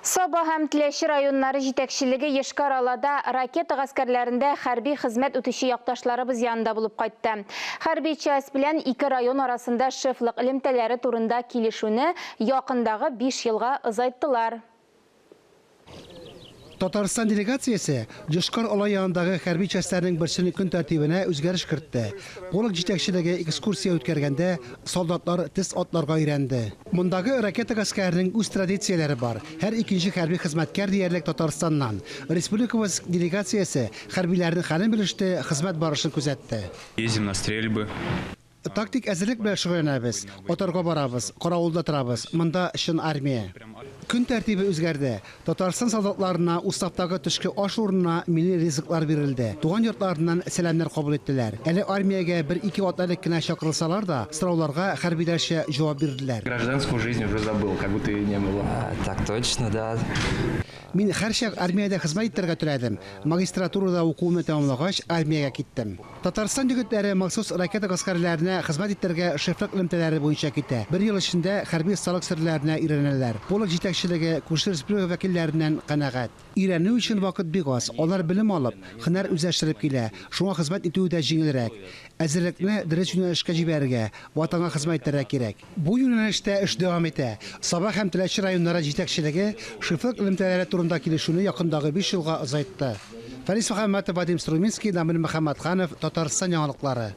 Саба һәм Теләче районнары җитәкчелеге Йошкар-Олада ракета гаскәрләрендә хәрби хезмәт үтүче якташларыбыз янында булып кайтты. Хәрби часть белән ике район арасында шефлык элемтәләре турында килешүне якындагы биш елга озайттылар. Татарстан делегациясе Йошкар Ола янындагы хәрби частьләрнең берсенең көн тәртибенә үзгәреш кертте. Полк җитәкчелеге экскурсия үткәргәндә, солдатлар тез атларга өйрәнде. Мондагы ракета гаскәренең үз традицияләре бар, һәр икенче хәрби хезмәткәр диярлек Татарстаннан. Республикабыз делегациясе хәрбиләрнең хәлен белеште, хезмәт барышын күзәтте. Ездим на стрельбы. Тактик әзерлек белән шөгыльләнәбез. Отарга барабыз, каравылда торабыз. Монда, чын армия. Көн тәртибе үзгәрде. Татарстан солдатларына уставтагы төшке аш урынына милли ризыклар бирелде. Туган йортларыннан сәламнәр кабул иттеләр. Әле армиягә бер-ике атна элек кенә чакырылсалар да, сорауларга хәрбиләрчә җавап бирделәр. Гражданскую жизнь уже забыл, как будто ее не было. Так точно, да. Мин һәрчак армиядә хезмәт итәргә теләдем. Магистратурада укуымны тәмамлагач, армиягә киттем. Татарстан егетләре махсус ракета гаскәрләренә хезмәт итәргә шефлык элемтәләре буенча китә. Бер ел эчендә хәрби осталык серләренә өйрәнәләр. Полк җитәкчелеге күрше республика вәкилләреннән канәгать. Өйрәнү өчен вакыт бик аз. Алар белем алып, һөнәр үзләштереп килә, шуңа хезмәт итүе дә җиңелрәк. Әзерлекне дөрес юнәлешкә җибәрергә, Ватанга хезмәт итәргә кирәк. Бу юнәлештә эш дәвам итә. Саба һәм Теләче районнары җитәкчелеге шефлык элемтәләре турында килешүне якындагы биш елга озайтты. Фәнис Мөхәммәтов, Вадим Струминский, Дамир Мөхәммәтханов, Татарстан яңалыклары.